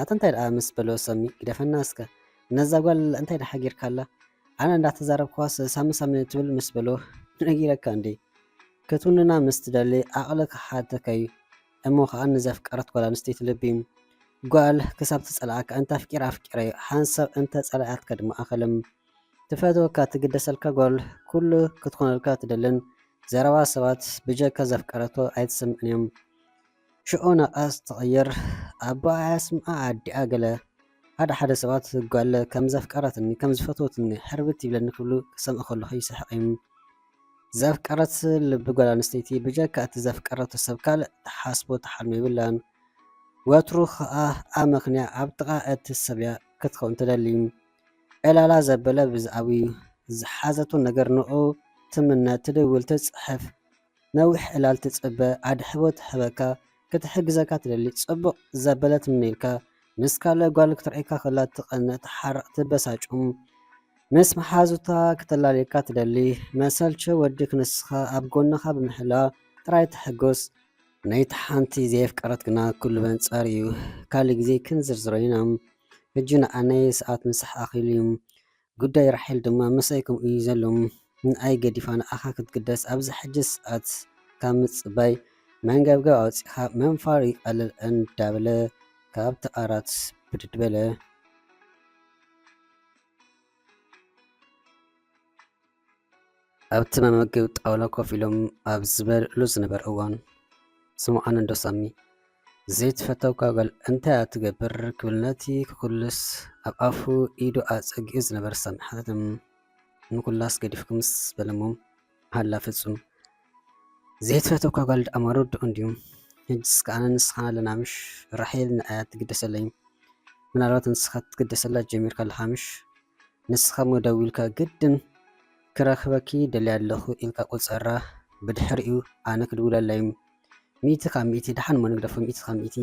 ኣታ እንታይ ደኣ ምስ በሎ ሰሚ ግደፈና እስከ ነዛ ጓል እንታይ ደኣ ሓጊርካ ኣላ ኣነ እንዳተዛረብኳስ ሳሚ ሳሚ ትብል ምስ በሎ ነጊረካ እንዴ ክትውንና ምስ ትደሊ ዓቕሊ ክሓተካ እዩ እሞ ከዓ ንዘፍቀረት ጓል ኣንስተይቲ ልቢ ጓል ክሳብ ትጸልኣካ እንተ ኣፍቂራ ኣፍቂረ ሓንሳብ እንተ ጸላኣትካ ድማ ኣኸለም ትፈትወካ ትግደሰልካ ጓል ኩሉ ክትኮነልካ ትደልን ዘረባ ሰባት ብጀካ ዘፍቀረቶ ኣይትሰምዕን እዮም ሽዑ ናቃስ ትቅይር ኣቦኣ ኣያስምዓ ኣዲኣ ገለ ሓደ ሓደ ሰባት ጓል ከም ዘፍቀረትኒ ከም ዝፈትወትኒ ሕርብት ይብለኒ ክብሉ ክሰምዕ ከለኩ ይስሕቅ እም ዘፍቀረት ልቢ ጓል ኣንስተይቲ ብጀካ እቲ ዘፍቀረቶ ሰብ ካልእ ትሓስቦ ትሓልሞ የብላን ወትሩ ከኣ ኣመክንያ ኣብ ጥቃ እቲ ሰብያ ክትከውን ትደሊ ዕላላ ዘበለ ብዝኣዊ ዝሓዘቶ ነገር ንዑ ትምነ ትድውል ትጽሕፍ ነዊሕ ዕላል ትጽበ ኣድሕቦ ትሕበካ ክትሕግዘካ ትደሊ ጽቡቕ ዘበለ ትምነየልካ ምስ ካለ ጓል ክትርእካ ከላ ትቐነ ትሓርቕ ትበሳጩም ምስ መሓዙታ ክተላልየካ ትደሊ መሰልቸ ወዲ ክንስኻ ኣብ ጎንኻ ብምሕላ ጥራይ ትሕጎስ ነይቲ ሓንቲ ዘየፍቀረት ግና ኩሉ በንጻር እዩ ካልእ ግዜ ክንዝርዝሮ ኢና ሕጂ ንዓ ናይ ሰዓት ምሳሕ ኣኺሉ ዩ ጉዳይ ራሄል ድማ ምሳይ ከምኡ ዩ ዘሎ ንኣይ ገዲፋ ንዓኻ ክትግደስ ኣብዚ ሕጂ ሰዓት ካብ ምጽባይ መንገብገብ ኣውጺኻ ምንፋር ይቀልል እንዳበለ ካብቲ ዓራት ብድድ በለ። ኣብቲ መመገቢ ጣውላ ኮፍ ኢሎም ኣብ ዝበልዕሉ ዝነበረ እዋን ስምዖን እንዶ ሳሚ ዘይትፈተውካ ጓል እንታይ እያ ትገብር ክብል ነቲ ክኩልስ ኣብ ኣፉ ኢዱ ኣጸጊዑ ዝነበረ ሳሚ ሓተቶም። ንኩላስ ገዲፍኩምስ በለሞም ሃላ ፍጹም ዘይትፈትወካ ጋል ድኣ ማሮድኦ እንድዩ ሕጅስ ክኣ ኣነን ንስካን ኣለና ምሽ ራሄል ንኣይ ኣይትግደሰለይን ምናልባት ንስካ ክትግደሰላ ጀሚርካ ኣለካ ምሽ ንስካ እሞ ደዊልካ ግድን ክረክበኪ ደልያ ኣለኩ ኢልካ ቁጸራ ብድሕሪኡ ኣነ ክድውለላ እዩ ሚእቲ ካብ ሚእቲ ድሓን እሞ ንግደፎ ሚእቲ ካብ ሚእቲ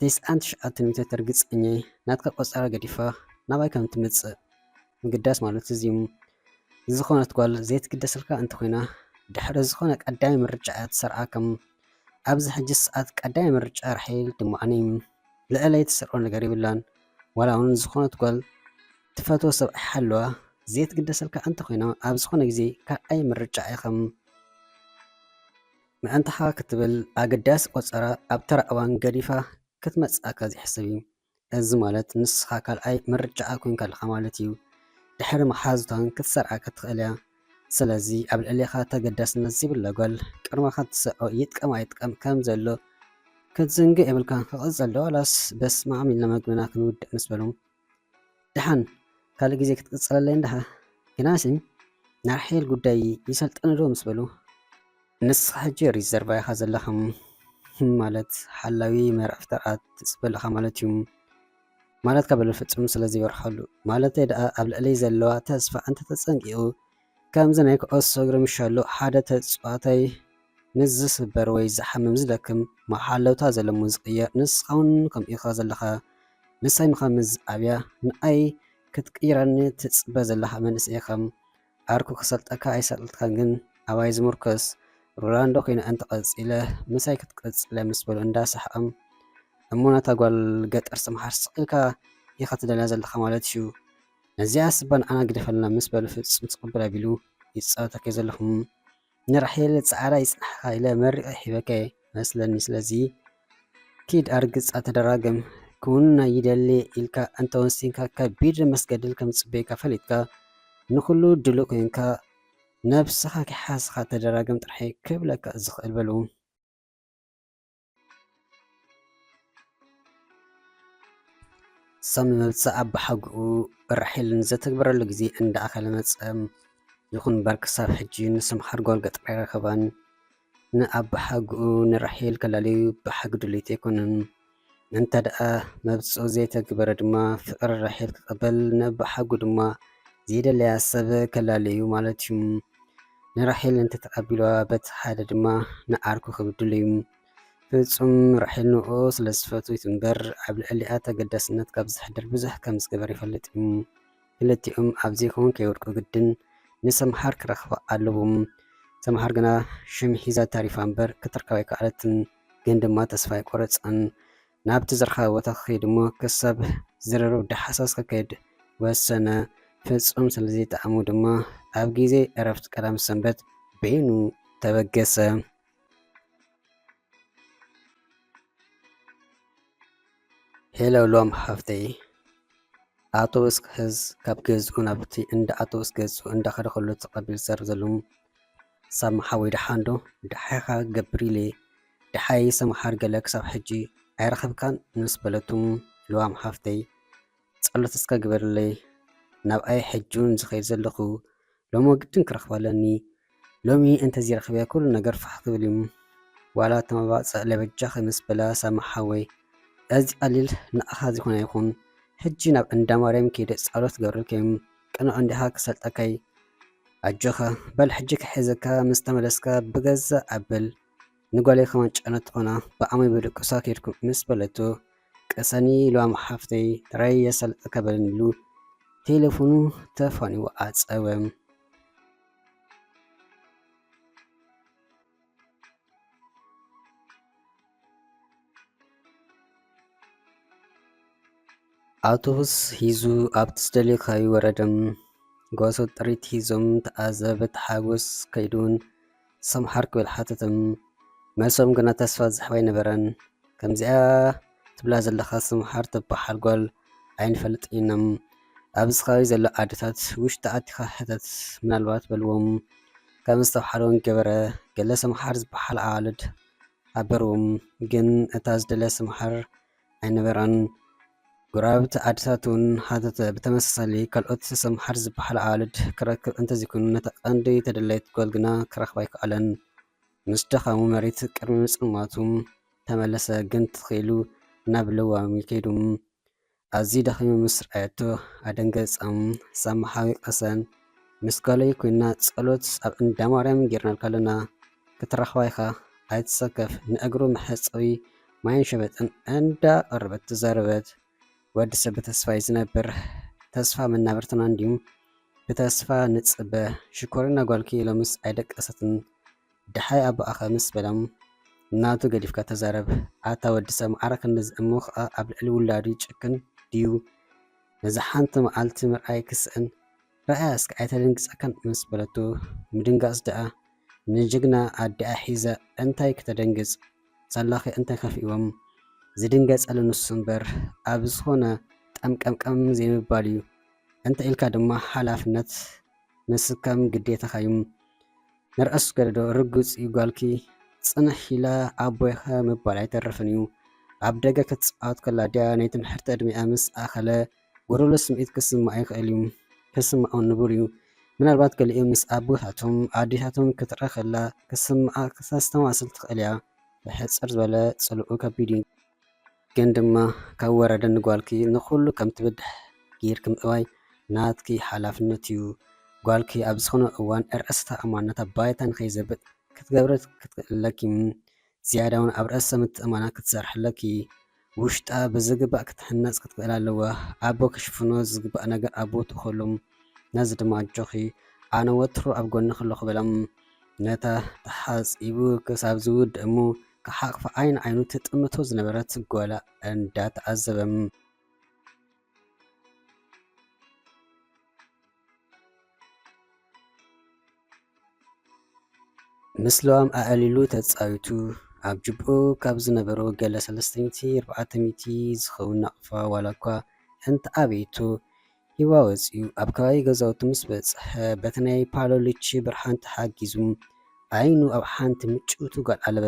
ተስዓን ትሽዓተን ሚእተት ርግጸኛ እየ ናትካ ቆጸራ ገዲፋ ናባይ ከም ትመጽእ ምግዳስ ማለት እዚ እዩ ዝኾነት ጓል ዘይትግደሰልካ እንተኾይና ድሕሪ ዝኾነ ቀዳማይ ምርጫ እያ ትሰርዓ ከም ኣብዚ ሕጂ ሰዓት ቀዳማይ ምርጫ ራሒል ድሞኣኒ ልዕለይ ትሰርዖ ነገር ይብላን ዋላ እውን ዝኾነት ጓል ትፈትዎ ሰብ ሓለዋ ዘይትግደሰልካ እንተኾይና ኣብ ዝኾነ ግዜ ካልኣይ ምርጫ እያ ከም ምዕንታኻ ክትብል ኣገዳሲ ቆፀራ ኣብ ተራ እዋን ገዲፋ ክትመፅኣካ ዘይሕሰብ እዩ እዚ ማለት ንስኻ ካልኣይ ምርጫኣ ኮይንካ ኣለኻ ማለት እዩ። ድሕሪ መሓዙታን ክትሰርዓ ክትኽእል እያ። ስለዚ ኣብ ልዕሌኻ ተገዳስነት ዘይብላ ጓል ቅድመኻ ትሰርዖ ይጥቀም ኣይጥቀም ከም ዘሎ ክትዝንግዕ የብልካን። ክቕጽል ዶ ዋላስ በስማም ኢልና መግብና ክንውድእ ምስ በሎም ድሓን ካልእ ግዜ ክትቅጽለለይ እንድሓ። ግናሲ ናይ ራሄል ጉዳይ ይሰልጠኒ ዶ ምስ በሉ። ንስኻ ሕጂ ሪዘርቫ ኢኻ ዘለኻ ማለት ሓላዊ መርዓ ፍጠራት ትጽበ ኣለኻ ማለት'ዩ ማለትካ በሎ ፍጹም ስለ ዘይበርሀሉ። ማለተይ ድኣ ኣብ ልዕለይ ዘለዋ ተስፋ እንተ ተጸንቂቑ። ከምዚ ናይ ኩዕሶ እግሪ ምሸሉ ሓደ ተጽዋታይ ምስ ዝስበር ወይ ዝሓምም ዝደክም መሓለውታ ዘሎ ምስ ዝቅየር ንስኻውን ከምኡ ኢኻ ዘለኻ ምሳይ ምኻን ምስ ዝኣብያ ንኣይ ክትቅይረኒ ትጽበ ዘለኻ መንእሰይ ኢኻ ዓርኩ ክሰልጠካ ኣይሰልጥካን ግን ኣባይ ዝሙርኮስ ሮላንዶ ኮይነ እንተ ቀጺለ ምሳይ ክትቅጽለ ምስ በሉ እንዳ ሰሓቐም እሞ ነታ ጓል ገጠር ዝተምሃርስ ስቕ ኢልካ ኢኻ ትደልያ ዘለኻ ማለት እዩ ነዚኣስ እባ ንዓና ግደፈልና ምስ በለ ፍጹም ተቐበል ኣቢሉ ይጻወታ ከይዘለኹ ንራሄል ጻዕራ ይጽንሓ ኢለ መሪቐ ሂበከ መስለኒ ስለዚ ኪድ ኣርግጻ ተደራገም ክውንና ይደሊ ኢልካ እንተ ወሲንካ ከቢድ መስገድል ከም ዝጽበየካ ፈሊጥካ ንኹሉ ድሉ ኮንካ ነብስኻ ኪሓስኻ ተደራገም ጥራሒ ክብለካ ዝኽእል በሉ ሰም መብጽእ ኣባሓግኡ ራሒል ንዘተግበረሉ ግዜ እንዳ ኣኸለ መጸ። ይኹን እምበር ክሳብ ሕጂ ንስም ሓድጎል ገጠር ኣይረኸበን። ንኣባሓግኡ ንራሒል ከላልዩ ብሓቂ ድልዩት ኣይኮነን። እንተደኣ መብጽኡ ዘይተግበረ ድማ ፍቕሪ ራሒል ክቐበል ንኣባሓጉ ድማ ዘይደለያ ሰብ ከላልዩ ማለት'ዩ። ንራሄል እንተተቐቢልዋ በቲ ሓደ ድማ ንዓርኩ ክብድል'ዩ። ፍጹም ራሄል ንእኡ ስለ ዝፈትውት እምበር ኣብ ልዕሊኣ ተገዳስነት ካብ ዘሕድር ብዙሕ ከም ዝገበር ይፈልጥ'ዩ። ክልቲኦም ኣብ ዘይከውን ከይወድቁ ግድን ንሰምሃር ክረኽባ ኣለዎም። ሰምሃር ግና ሽም ሒዛ ተሪፋ እምበር ክትርከብ ኣይከኣለትን። ግን ድማ ተስፋ ኣይቆረጸን። ናብቲ ዝረኸበ ቦታ ክኸይድ እሞ ክሳብ ዝርርብ ዳሕሳስ ክካየድ ወሰነ። ፍጹም ስለ ዘይጠዓሞ ድማ ኣብ ግዜ ዕረፍቲ ቀዳም ሰንበት በይኑ ተበገሰ። ሄሎ ሎም ሓፍተይ ኣውቶቡስ ክሕዝ ካብ ገዝኡ ናብቲ እንዳ ኣውቶቡስ ገጹ እንዳኸደ ከሎ ተቐቢሉ ዝዛረብ ዘሎ ሳብ መሓወይ ደሓንዶ ደሓኻ ገብሪሌ ደሓይ ሰምሓር ገለ ክሳብ ሕጂ ኣይረኸብካን ምስ በለቱም ልዋም ሓፍተይ ጸሎት እስከ ግበርለይ ናብኣይ ሕጂውን ዝኸይድ ዘለኹ ሎሚ ግድን ክረኽባ ኣለኒ ሎሚ እንተዘይረኺበ ኩሉ ነገር ፋሕ ክብል እዩ ዋላ ተመባጸእለ በጃኺ ምስ በላ ሳሚ ሓወይ እዚ ቀሊል ንኣኻ ዝኾነ ይኹን ሕጂ ናብ እንዳ ማርያም ከይደ ጸሎት ክገብረልከይም ቅኑዕ እንዲኻ ክሰልጠከይ ኣጆኻ በል ሕጂ ክሕዘካ ምስ ተመለስካ ብገዛ ኣብል ንጓለይ ከማን ጨነት ትኾና ብኣመይ በሉ ቅሳ ኬድኩም ምስ በለቶ ቅሰኒ ኢልዋም ሓፍተይ ጥራይ የሳልጠካ በለኒ ኢሉ ቴለፎኑ ተፋኒዎ ኣጸወ። ኣውቶቡስ ሂዙ ኣብቲ ዝደልዮ ከባቢ ወረደ። ጓሶት ጥሪት ሂዞም ተኣዘበ ተሓጎስ ከይዱን ሰምሓር ክብል ሓተቶም መልሶም ግና ተስፋ ዝሕብ ኣይነበረን ከምዚኣ ትብላ ዘለኻ ሰምሓር ትበሓል ጓል ኣይንፈልጥን ኢሎም ኣብዚ ከባቢ ዘሎ ኣደታት ውሽጢ ኣቲኻ ሕተት ምናልባት በልዎም ከም ዝተብሓለውን ገበረ ገለ ሰምሓር ዝበሓል ኣዋልድ ኣበርዎም ግን እታ ዝደለ ሰምሓር ኣይነበራን። ጎረባብቲ ዓድታት እውን ሃተተ። ብተመሳሳሊ ካልኦት ሰምሃር ዝበሃላ ኣዋልድ ክረክብ እንተዘይኮይኑ ነታ ቀንዲ ተደላይት ጓል ግና ክረኽባ ኣይከኣለን። ምስ ደኻሙ መሬት ቅድሚ ምጽልማቱ ተመለሰ ግን ተተኺሉ ናብ ለዋሚ ከይዱ። ኣዝዩ ደኺሙ ምስ ረኣየቶ ኣደንገጻ። ሰምሃር ወቀሰ። ምስ ጓለይ ኮይና ጸሎት ኣብ እንዳ ማርያም ጌርናልካ ኣለና ክትረኽባ ኢኻ ኣይትሰከፍ ንእግሩ መሕጸቢ ማይን ሸበጥን እንዳ ቀረበት ተዛረበት። ወዲ ሰብ ብተስፋ እዩ ዝነብር ተስፋ መናብርትና እንድዩ ብተስፋ ንጽበ ሽኮሪና ጓልኪ ሎምስ ኣይደቀሰትን ደሓይ ኣቦኣኸ ምስ በሎም ናቱ ገዲፍካ ተዛረብ ኣታ ወዲ ሰብ ማዕረ ክንድዚ እሞ ኸኣ ኣብ ልዕሊ ውላዱ ይጭክን ድዩ ነዚ ሓንቲ መዓልቲ ምርኣይ ክስእን ረኣያ እስከ ኣይተደንግጻካን ምስ በለቶ ምድንጋጽ ደኣ ንጅግና ኣዲኣ ሒዘ እንታይ ክተደንግጽ ዘላኸ እንታይ ከፊእዎም ዝድንገጸሉ ንሱ እምበር ኣብ ዝኾነ ጠምቀምቀም ዘይምባልዩ እንተ ኢልካ ድማ ሓላፍነት ምስካም ግዴታኻዩ ንርኣሱ ገደዶ ርግጽዩ ጓልኪ ጽንሕ ኢላ ኣቦይኸ ምባል ኣይተርፍንዩ ኣብ ደገ ክትጻወት ከላ ድያ ናይ ትምሕርቲ ዕድሚኣ ምስ ኣኸለ ጎዶሎ ስምዒት ክስማዕ ይኽእል እዩ፣ ክስምዖን ንቡር እዩ። ምናልባት ገሊኦም ምስ ኣቦታቶም፣ ኣዴታቶም ክትርኣ ከላ ክስምዓ ክተስተማስል ትኽእል እያ። ብሕጽር ዝበለ ጽልኡ ከቢድ እዩ። ግን ድማ ካብ ወረደ ንጓልኪ ንኹሉ ከም ትብድሕ ጌርኪ ምእዋይ ናትኪ ሓላፍነት እዩ። ጓልኪ ኣብ ዝኾነ እዋን ርእሰ ተኣማንነታ ባይታ ንኸይዘብጥ ክትገብሪ ክትክእሊ ኣለኪ። ዝያዳ ውን ኣብ ርእሰ ምትእምማና ክትሰርሒ ኣለኪ ውሽጣ ብዝግባእ ክትህነጽ ክትክእል ኣለዋ ኣቦ ክሽፍኖ ዝግባእ ነገር ኣብ ቦትኡ ከሉም ነዚ ድማ ኣጆኺ ኣነ ወትሩ ኣብ ጎንኺ ኣለኹ በሎም ነታ ተሓጺቡ ክሳብ ዝውድ እሙ ክሓቕፋ ዓይኒ ዓይኑ ትጥምቶ ዝነበረት ጓላ እንዳተዓዘበም ምስ ለዋም ኣዕሊሉ ተጻዊቱ ኣብ ጅብኡ ካብ ዝነበሮ ገለ ሰለስተ ሚእቲ ኣርባዕተ ሚእቲ ዝኸውን ናቕፋ ዋላ እኳ እንተኣበየቶ ሂዋ ወጺኡ ኣብ ከባቢ ገዛውቱ ምስ በጽሐ በቲ ናይ ፓሎሊቺ ብርሃን ተሓጊዙ ዓይኑ ኣብ ሓንቲ ምጭውቲ ጓል ኣለበ